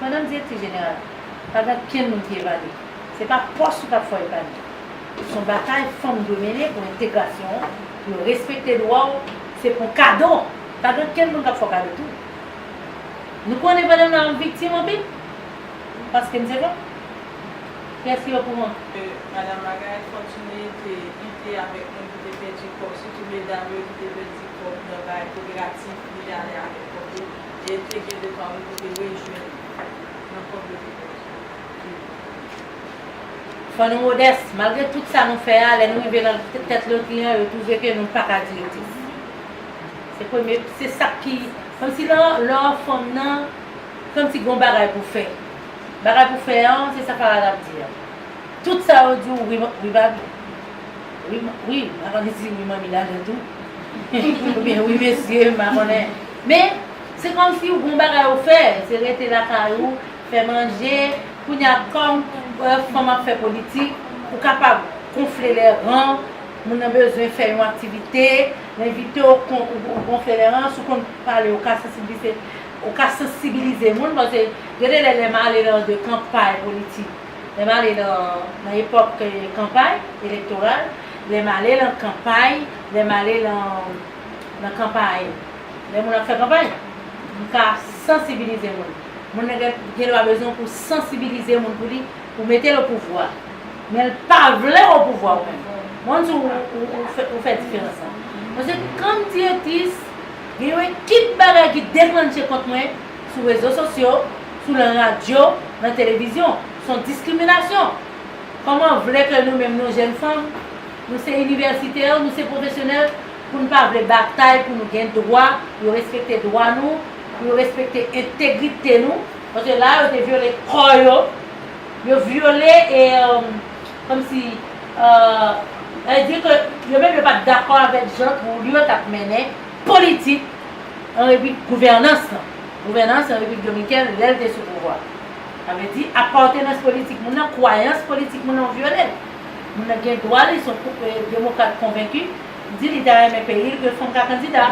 Pandan direktè jeneral la, pa gen okenn moun ki evalye. Se pa pòs ou k ap fè w epanyen. Se yon batay fanm dwe mennen pou entegrasyon w, pou yo respekte dwa w, se pou kado! Pa gen okenn moun k ap fè w kado tou. Nou konnen pandan m la a m viktim anpil, paske m se fanm. Kiyès ki okouran? Ke Madan Margaret Fortuné te lite avèk moun ki te pèdi kò, sitou medam yo ki te pèdi kò nan bagay koperativ li ale avèk kò tou. e entegre de pa ou pou te rejwenn nan kòm yo te konn viv nan peyi yo. Fò nou modès, malgre tout sa nou fè a, lè nou rive nan tèt lotriyan yo twouve ke nou pa ka dire plis. Se premye, se sak ki, kòm si lè w lè w fanm nan, kòm si gen yon bagay pou w fè. Bagay pou w fè an, se sa Farah t ap di an. Tout sa yo di w wi wi baby, wi wi, m pa konnen si wi manmi ladan l tou, oubyen wi mesye, m pa konnen. Men, se kòmsi ou gon bagay ou fè, se rete lakay ou, fè manje, kounye a kòm fanm ap fè politik, ou kapab konfle lè ran, moun nan bezwen fè yon aktivite, l envite w kon ou konfle lè ran, si w konn pale ou ka sansibilize, ou ka sansibilize moun pase gade lè lè m ale lan de kanpay politik, lè m ale lan nan epòk kanpay elektoral, lè m ale lan kanpay, lè m ale lan. nan kanpay, lè moun ap fè kanpay, m ka sansibilize moun. Moun nan gen dwa bezwen pou sansibilize moun pou li, pou mete l opouvwa. Men l pa vle opouvwa ou menm. M pa konn si ou fè diferans la. Mwen se kòm direktris, gen yon ekip bagay ki deklanche kont mwen sou rezo sosyo, sou lan radyo, lan televizyon. S on diskriminasyon. Kòman w vle ke nou menm nou jèn fanm, Nou se inivèsitè yo, nou se pwofesyonèl, pou n pa vle batay pou nou gen dwa, pou yo respekte dwa nou, pou yo respekte entegrite nou, paske la a yo te vyole kò yo, yo vyole e kòmsi e di ke yo menm yo pa t dakò avèk jan Trulio t ap mennen politik an repi gouvènans lan, gouvènans an Repiblik Dominikèn lè l te sou pouvwa. Sa vle di apàtenans politik moun nan, kwayans politik moun nan yo vyole l. Moun nan gen dwa li son demokrat konvenki, di li ta renmen peyi l ke fanm ka kandida,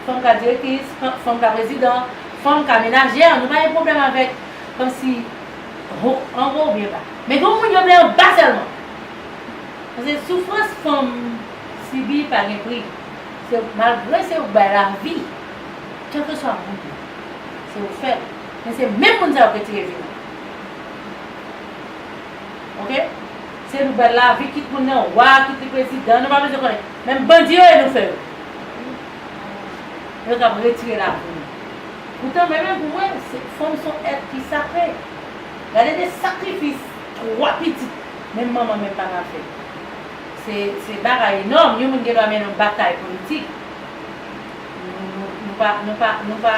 fanm ka direktris, fanm ka prezidan, fanm ka menajè, nou pa gen pwoblèm avèk kòmsi ho anwo oubyen ba. Men gen yon moun yo vle anba sèlman. Paske soufrans fanm sibi pa gen pri. Se malgre se yo k bay lavi, kèlkeswa moun yo, se yo k fè l. Men se menm moun sa yo k retire vi moun. ok se nouvèl lavi ki koun nan wa ki te prezidan nou pa bezwen konnen menm bandi yo e nou fè yo yo kap retire lavi nou poutan mwen menm pou mwen fanm son èt ki sakre gade de sakrifis 3 pitit menm manman menm papa fè se se bagay enòm yon moun gen dwa mennen yon batay politik nou pa nou pa nou pa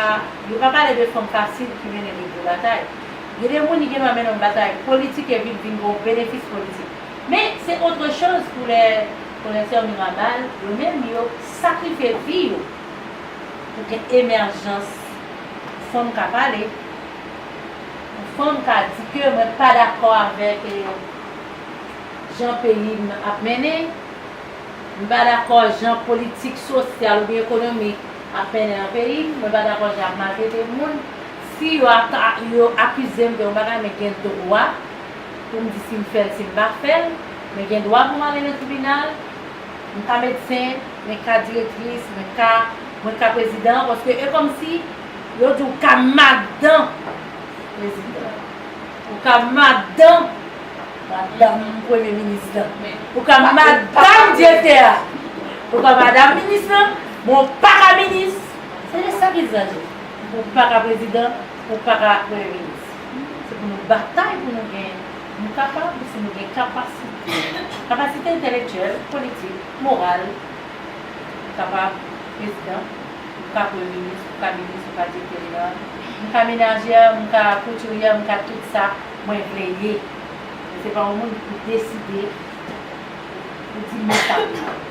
yo pa pale de fanm fasil ki mennen de gwo batay. Gen de moun li gendwa mennen yon batay politik e vit vin gen yon benefis politik. Men, se otre choz pou lè Konètè Mirabal, yo menm, yo sakrifye vi yo pou gen emèjans pou fanm ka pale, pou fanm ka di ke mwen pa dakò avèk jan peyi m ap mennen, m pa dakò jan politik sosyal oubyen ekonomik ap mennen nan peyi m, mwen pa dakò jan y ap maltrete moun. Si yo akize m de yon bagay men gen dwa pou m di si m fè l si m pa fè l, mwen gen dwa pou m ale nan tribinal, m ka medsen, mwen ka direktris, mwen ka mwen ka prezidan paske e kòmsi yo di ou ka madan prezidan, ou ka madan madanm premye minis lan, ou ka madam direktè a, ou ka madam minis lan men ou pa ka minis, se de sa ki di sa Jezi. Ou paka prezidan, ou paka premye minis. Se pou nou batay pou nou gen. Nou kapab si nou gen kapasite. Kapasite entèlektyèl, politik, moral. Ou kapab prezidan, ou ka premye minis, ou ka minis, ou ka direktè jeneral. M ka menaje, m ka koutiryè, m ka tout sa mwen vle ye. Men se pa yon moun ki deside pou di mwen sa pou m fè.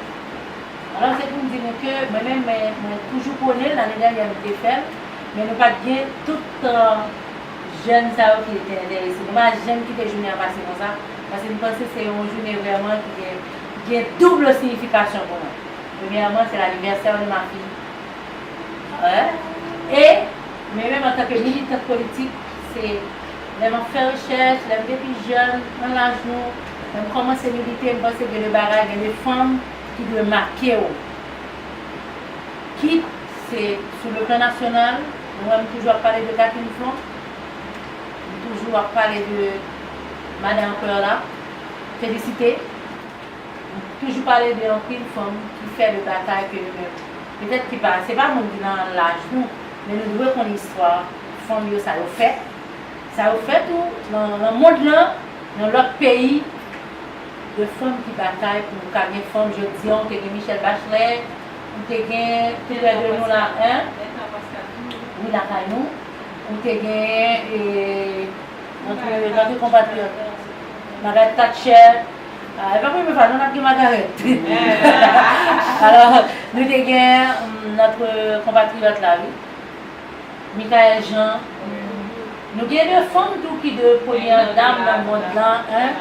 Alò se pou m di nou ke mwen menm mwen toujou pwone, lane dènyè nou te fè l, men nou pa t gen tout tan jèn sa yo ki te enterese. Nou pa janm kite jounen an pase konsa, paske m panse se yon jounen vrèman ki gen ki gen double siyifikasyon pou mwen. Premyèman se l'anniversaire de ma fille 1 e mwen menm antanke militant politik se lè m ap fè rechèch, lè m te pi jèn, nan laj nou, lè m kòmanse milite, m panse gen de bagay, gen de fanm. ki dwe make w kit se sou le plan nasyonal, nou wè m toujou ap pale de Catherine Flon, m toujou ap pale de Madan Perla Félicité, m toujou pale de anpil fanm ki fè le batay ke yo menm petèt ki pa, se pa moun ki nan laj nou, men nou dwe konn istwa fanm yo sa yo fè, sa yo fè tou nan mond lan, nan lòt peyi. Gen fanm ki batay pou nou ka gen fanm jodi an ou te gen Michelle Bachelet ou te gen plizyè de nou la hein wi lakay nou ou te gen notre compatriote Margaret Thatcher epi apre men pa nou nap gen Margaret alors nou te gen notre compatriote la wi. Michaëlle Jean Nou gen de fanm tou ki de premyè dam nan mond la hein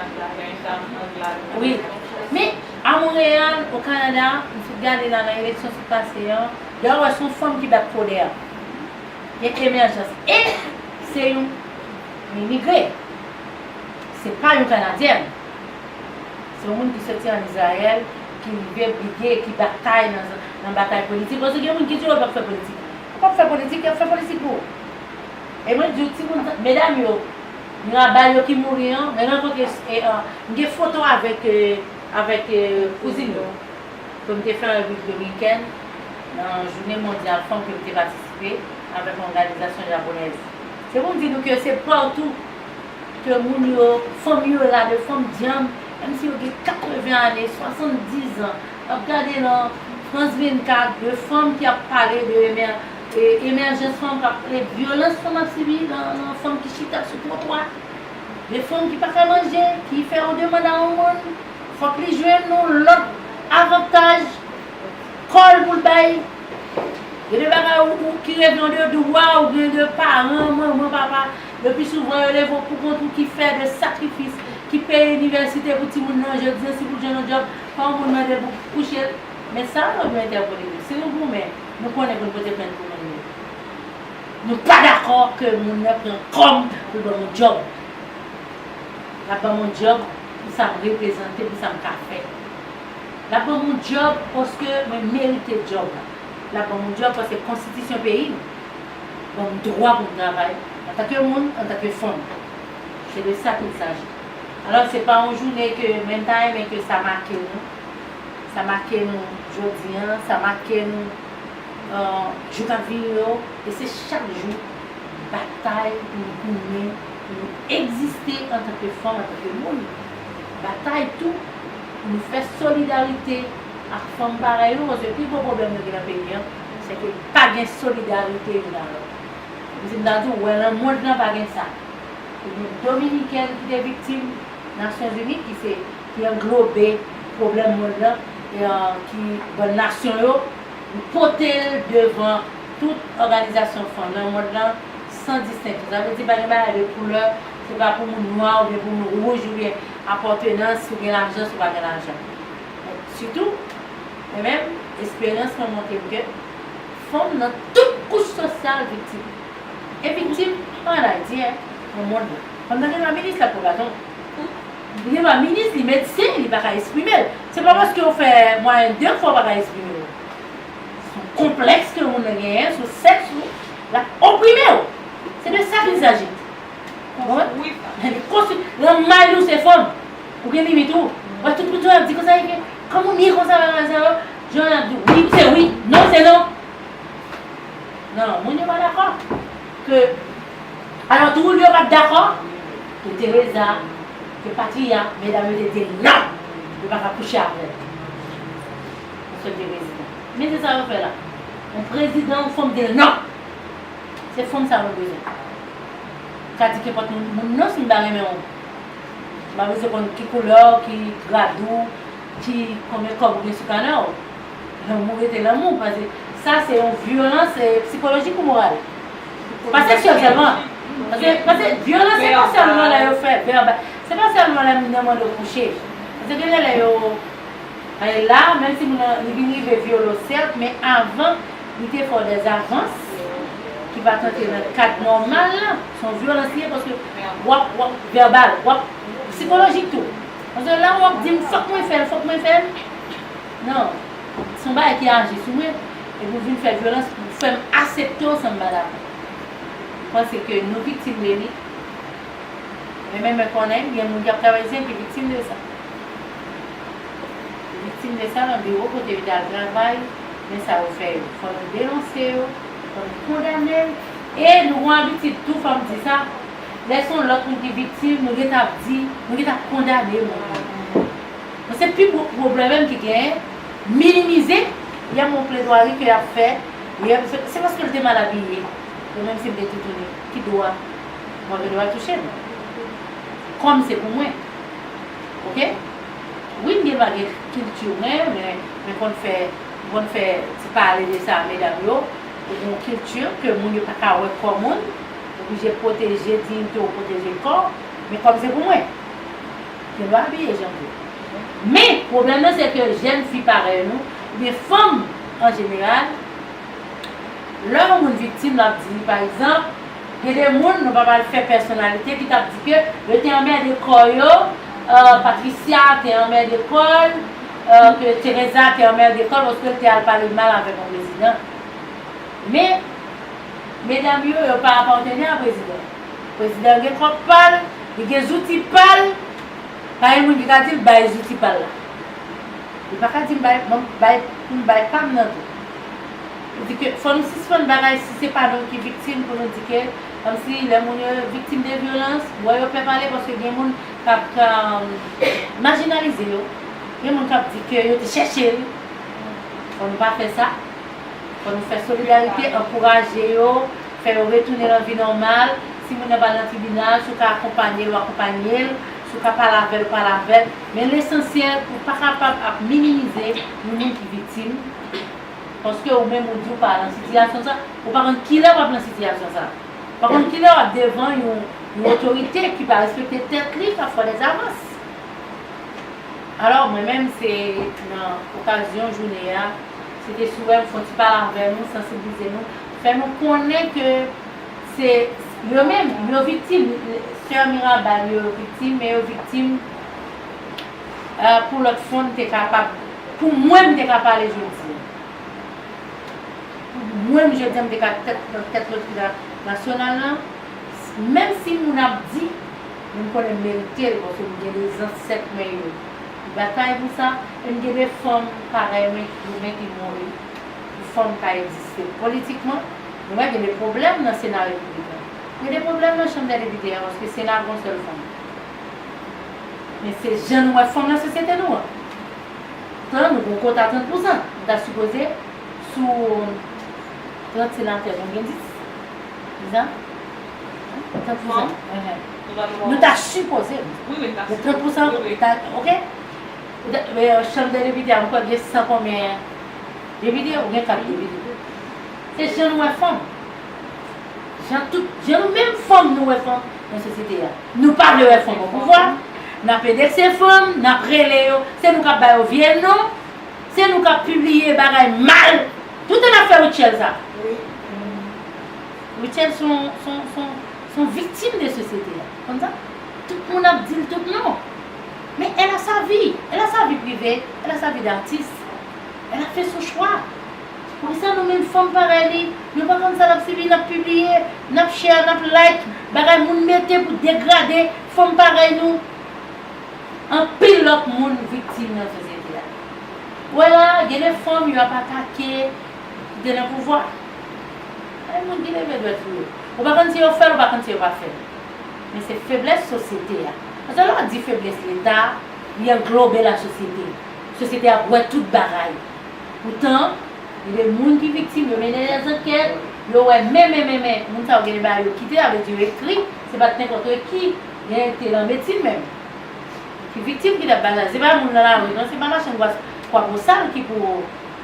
wi men a Montréal au Canada m sot gade la nan eleksyon sot pase an lè wap wè son fanm ki bat kode a gen emèjans e se yon imigre se pa yon kanadyèn se yon moun ki soti an Israël ki rive brige ki batay nan batay politik paske gen moun ki di yo pap fè politik. Ou pap fè politik yap fè politik pou ou e mwen diw timoun sa medam yo nan bal yo ki mouri an mwen rankontre m gen foto avèk avèk kouzin yo kem te fè yon viv dominikèn nan jounen mondyal fanm kem te patisipe avèk yon òganizasyon japonèz se poum di nou ke se patou ke moun yo fanm yo la de fanm dyanm menm si yo gen 80 ane 70 zan. Nap gade nan France 24 de fanm ki ap pale de emèjans fanm kap vyolans fanm ap sibi nan fanm ki chita sou twotwa de fanm ki paka manje ki fè yon demand a yon moun fòk li jwenn yon lòt avantaj kòl poul bay gen de bagay ou ki rete yon de dwa ou gen de paran manman papa le pi souvan yo leve w poukont ou ki fè de sakrifis ki peye inivèsite pou timoun nan jodi an si pou l jwenn yon djòb Fanm pou n mande pou kouche l. Men sa mwen vle entèpele nou, si nou goumen, nou konnen pou n pote plent pou moun yo. Nou pa dakò ke moun nan pran kòm pou l ban moun dyòb. L ap ban moun dyòb pou sa m reprezante, pou sa m ka fè. L ap ban moun dyòb paske mwen merite dyòb la. L ap ban moun dyòb paske konstitisyon peyi m ban m dwa pou m travay antanke moun, antanke fanm. Se de sa k il saji. Alò se pa yon jounen ke menm ta renmen ke sa make nou, sa make nou jodi an, sa make nou jou kap vini yo, e se chak jou batay pou nou goumen, pou nou egziste antanke fanm, antanke moun, batay tou pou nou fè solidarite ak fanm parèy nou, paske pi gwo pwoblèm nou gen nan peyi an, se ke pa gen solidarite youn a lòt. Kòmsi m ta di w, wè nan mond lan pa gen sa. e gen Dominikèn ki te viktim Nasyon Zini ki se ki anglobe pwoblèm mond lan e ki ban nasyon yo li pote l devan tout òganizasyon fanm nan mond lan san distenksyon sa vle di pa gen bagay de koulè se pa pou moun nwa oubyen pou moun wouj oubyen apòtenans si w gen lajan si w pa gen lajan men sitou mwen menm esperyans mwen montre m ke fanm nan tout kouch sosyal viktim. E pi ti an Ayiti nan mond lan. Fanm nan genlwa minis lap pran baton. Li genlwa minis li medsen li paka esprime l. Se pa paske ou fè mwayenn 2 fwa ou paka esprime w. Son konplèks ke yon moun nan genyen sou sèks ou lap oprime w. Se de sa kel saji. Ou konprann? Li konstwi. Lan may ou se fanm. Ou gen limit ou. Ou wè tout moun jan yap di konsa e ke. Kòm ou nye konsa bagay sa yo. Jan yap di w wi se wi non se non. Non, moun yo pa dakò ke alò tou moun yo pat dakò ke Teresa ke patriya medam yo te di l non yo pa ka kouche avè l pou fè l vin prezidan. Men se sa yo fè la. On prezidan on fanm di l non. Se fanm sa mwen bezwen. M ka di kenpòt moun non si m ta renmen w. M pa bezwen konn ki koulè w, ki grad ou, ki konbyen kòb ou gen sou kanè w. Lanmou rete lanmou paske sa se yon vyolans psikolojik ou moral. Pa seksyèl sèlman. Paske vyolans se pa sèlman lè yo fè vèbal. Se pa sèlman lè moun nan mande w kouche. Paske gen lè yo ale la menm si moun nan li vin rive vyole w sèt men avan li te fè w dè zavans ki pa t antre nan kad nòmal la. Se yon vyolans li ye paske wap vèbal, wap psikolojik tou. Paske lè wap di m fòk mwen fè l, fòk mwen fè l. Non. Se yon bagay ki aji sou mwen, epi ou vin fè vyolans pou fè m asepte w san m pa dakò. Ou panse ke nou viktim de li. Men men mwen konnen gen moun ki ap travay ici ki viktim de sa. Yo viktim de sa nan biwo kote yo te al travay, men sa yo fè yo. Fò nou denonse yo, fò nou kondane l. E nou gon abitid tou, fò m di sa, lè se yon lòt moun ki viktim, nou gen tan ap di, nou gen tan ap kondane moun nan. Men se pi gwo pwoblèm ki genyen, minimize, yam yon pledwari ke yap fè, yam se se paske li te mal abiye, bon menm sim te toutouni, ki dwa mwen gen dwa touchem? Kòm se pou mwen. Ok? Wi m gen vage kilti mwen, men men konn fè m konn fè ti pale de sa medam yo, ou gon kilti ke moun yo paka wè kò moun, oblije pwoteje diyite w, pwoteje kò w, men kòm se pou mwen. Gen dwa abiye jan vle. Men, pwoblèm nan se ke jèn fi parèy nou, oubyen fanm an jeneral, lè yon moun viktim l ap di, pa egzanp, gen de moun, nou pa pral fè pèsonalite, ki t ap di ke yo te anmède kò yo, Patricia te anmède kò l, ke Teresa te anmède kò l paske l te al pale mal avèk yon prezidan. Men, medam yo, yo pa apatene a prezidan. Prezidan an gen kont pa l, li gen zouti pa l, pa gen moun ki ka di l bay zouti pa l la. Li pa ka di m bay, ban m bay, pou m bay pa m nan tou. Pou di ke fò nou sispann bagay si se pa nou ki viktim pou nou di ke kòmsi lè moun yo viktim de vyolans, wè yo pè pale paske gen moun k ap majinalize yo, gen moun k ap di ke yo te chèche l. Fò nou pa fè sa. Fò nou fè solidarite, ankouraje yo. Fè yo retounen nan vi nòmal, si moun nan pral nan tribinal, si w ka akonpanye l ou akonpanye l, si w ka pale avè l ou pale avè l, men lesansyèl ou pa kapab ap minimize yon moun ki viktim paske ou menm ou di w pa nan sitiyasyon sa, ou pa konn kilè w ap nan sitiyasyon sa, ou pa konn kilè w ap devan yon otorite ki pa respekte tèt li kap fè dezavans. Alò mwen menm se nan okazyon jounen an, se te souwè m fon ti pale avè nou, sansiblize nou, Fè nou konnen ke se yo menm yo viktim sè mirabal yo viktim men yo viktim pou lòt fon te kapab pou mwen m te ka pale jodi pou mwen m jodi an m te ka tèt nan tèt lopital nasyonal lan menm si moun ap di men m konnen m merite l paske m gen de zansèt mwen yo ki batay pou sa e m gen de fanm parèy mwen ki goumen ki mouri. pou fanm ka egziste politikman, nou wè gen de pwoblèm nan Sena Repibliken. Gen de pwoblèm nan Chanm dè Depite an paske Sena a gen yon sèl fanm. Men se jan nou wè fanm nan sosyete nou an. Poutan nou gen yon kota 30 pousan. Nou ta sipoze sou 30 senatè nou gen 10. Lizan? 30 pousan. Nou ta sipoze gen 30 pousan. Ok? Chanm dè Depite a m kwè gen 100 konbyen. Depite ou gen kat depite. Se jan nou wè fanm. Jan tout, jan nou menm fanm nou wè fanm nan sosyete a. Nou pa vle wè fanm opouvwa. N ap endekse fanm, n ap rele yo, se nou k ap ba yo vye non, se nou k ap pibliye bagay mal. Toutan n ap fè Rutshelle sa. Rutshelle s on, s on, s on, s on viktim de sosyete a. Ou konn sa? Tout moun ap di l tout non. Men, elle a sa vie. Elle a sa vie privée. Elle a sa vie d'artiste. Lè lap fè son chwa. Poukisa nou menm fanm parèy li nou pa konn sa nap sibi nap pibliye nap share nap like bagay moun mete pou degrade fanm parèy nou anpil lòt moun viktim nan sosyete a ou wè la gen de fanm yo ap atake ki te nan pouvwa bay moun ki leve dwèt sou yo ou pa konn si yo fèl ou pa konn si yo pa fèl men se feblès sosyete a paske lè ou di feblès leta li anglobe la sosyete. Sosyete ap wè tout bagay. Poutan, gen de moun ki viktim, yo mennen lè zankèt, yo wè men men men men moun sa yo gen de bagay yo kite, sa vle di yo ekri, se pa t nenpòt re ki gen te lan medsin menm ki viktim ki t ap bagay. Se pa moun lan lari non, se pa machann gwas Kwabosal ki pou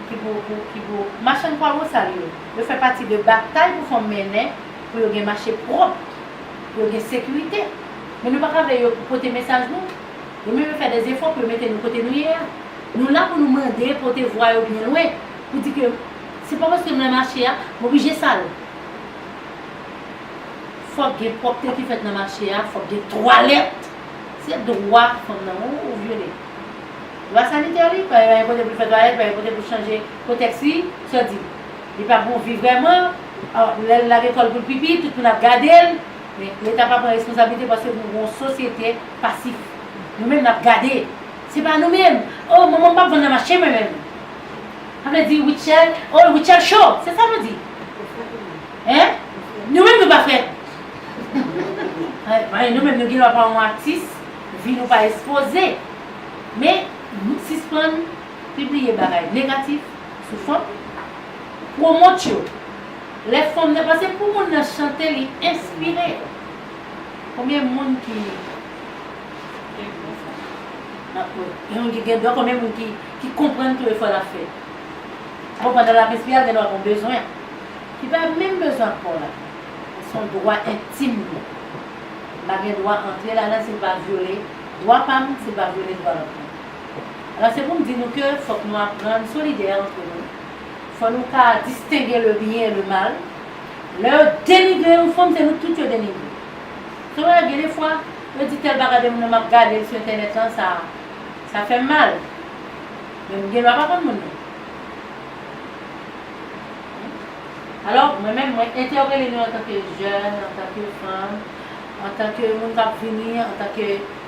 ki pou ki pou machann Kwabosal yo, yo fè pati de batay pou fanm mennen pou yo gen mache pwòp, pou yo gen sekirite. Men nou pa ka vle yo pote mesaj nou. Yo menm yo fè de zefò pou yo mete nou kote nou ye a. Nou la pou nou mande, pote vwa yo byen lwen, pou di ke se pa paske m nan mache a, m oblije sal. Fòk gen pwòpte ki fèt nan mache a, fòk gen twalèt. Se dwa fanm nan ou vyole. Dwa sanitè li, pa gen yon kote pou l fè twalèt, pa gen yon kote pou l chanje kotèks li, sò di. Li pa bon vi vrèman, lè l lage kò l pou l pipi, tout moun ap gade l. Men leta pa pran responsablite paske nou gon sosyete pasif. Nou menm nap gade. Se pa nou menm. Oh manmanm pap vann nan mache mwen menm. Sa vle di Rutshelle oh Rutshelle cho. Se sa nou di. Hein? Nou menm nou pa fè. Anh nou menm nou gen dwa pa yon atis vi nou pa espoze. Men sispann pibliye bagay negatif sou fanm. Pwomot yo. Lè fanm nan pase pou moun nan chante li enspire konbyen moun ki yon ki gen don konbyen moun ki konprann tou efò lap fè bon pandan lap enspire gen dwa gon bezwen ki pa menm bezwen ak kò la son dwa entim li m pa gen dwa antre ladan sil pa vyole dwa pam sil pa vyole dwa lòt moun alò se poum di nou ke fòk nou aprann solidè antre nou. Fò nou ka distenge le byen e le mal. Lè yo denigre yon fanm, se nou tout yo denigre. Se wè gen de fwa, yo di tèl bagay de moun nan m ap gade l sou entènèt lan, sa sa fè m mal. Men m gen dwa pa konn moun nan. Alò, mwen menm, mwen entèwpele nou antanke jèn, antanke fanm, antanke moun k ap vini, antanke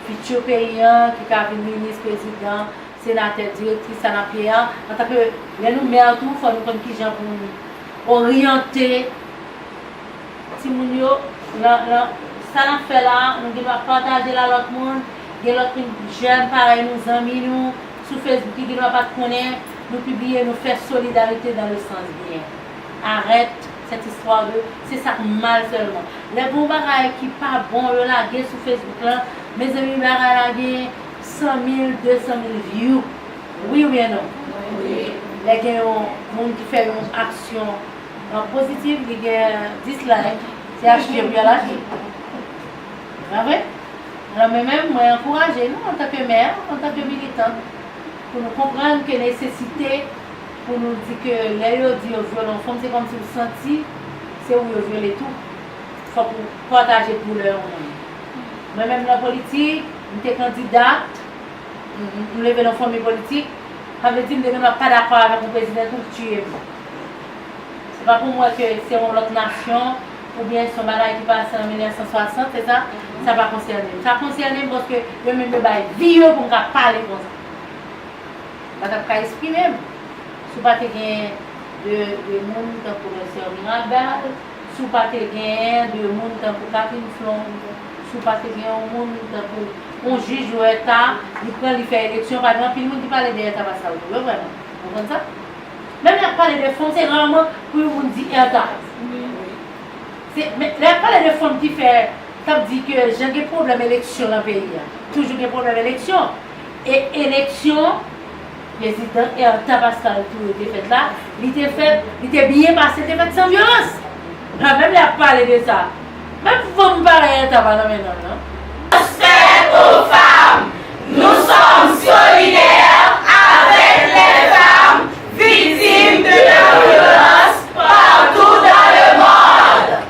fiti peyi an ki ka vin minis, prezidan, Senatè, Direktris sa n ap ye a, antanke lè nou mè tou fò nou konn kijan pou n oryante timoun yo nan sa n ap fè la a. Nou gen dwa pataje l a lòt moun. Gen lòt moun, jèn parèy nou, zanmi nou sou Facebook ki gen dwa pa t konnen nou pibliye, nou fè solidarite dan le sans byen. Arèt sèt istwa de se sa k mal sèlman. Lè gen yon bagay ki pa bon yo lage sou Facebook la, mezanmi bagay la gen 100 mil 200 mil view wi ou byen non lè gen yon moun ki fè yon aksyon positif li gen 10 like se achte pou yal achte se pa vre alò mwen menm mwen ankouraje nou antanke mè antanke militant pou nou konprann ke nesesite pou nou di ke lè yo di yo vyole yon fanm se kòmsi ou santi se ou yo vyole tou fòk ou pataje doulè yon moun mwen menm nan politik. M te kandida, m leve nan fanmi politik, sa vle di m demen map pa dakò avèk yon prezidan epi w tiye m. Se pa pou m wè ke se yon lòt nasyon oubyen se yon bagay ki pase an 1960, se sa, sa pa konsène m. Sa konsène m paske yo menm yo bay vi yo pou m ka pale konsa. M pa tap ka esprime m si w pa te gen de moun tankou Doktè Mirabal, si w pa te gen de moun tankou Catherine Flon. Si w pa te gen yon moun tankou yon jij Huerta, li pran li fè eleksyon, pa gen anpil moun ki pale dèyè Tabasca yo tou vre vrèman. Ou konprann sa? Menm lè y ap pale de fon, se raman pou yon moun di Huerta. Se, men, lè y ap pale de fon ki fè, k ap di ke jan gen pwoblèm eleksyon nan peyi a, toujou gen pwoblèm eleksyon. E eleksyon. Prezidan Ertha Pascal Touré te fèt la, li te fèt, li te byen pase, te fèt san vyolans. Ha, menm lè y ap pale de sa, menm fanm parèy Ertha pa nan men nonm nan. Respè pou fanm! Nou som solidè avek lè fanm viktim de la vyolans partou dan le mond.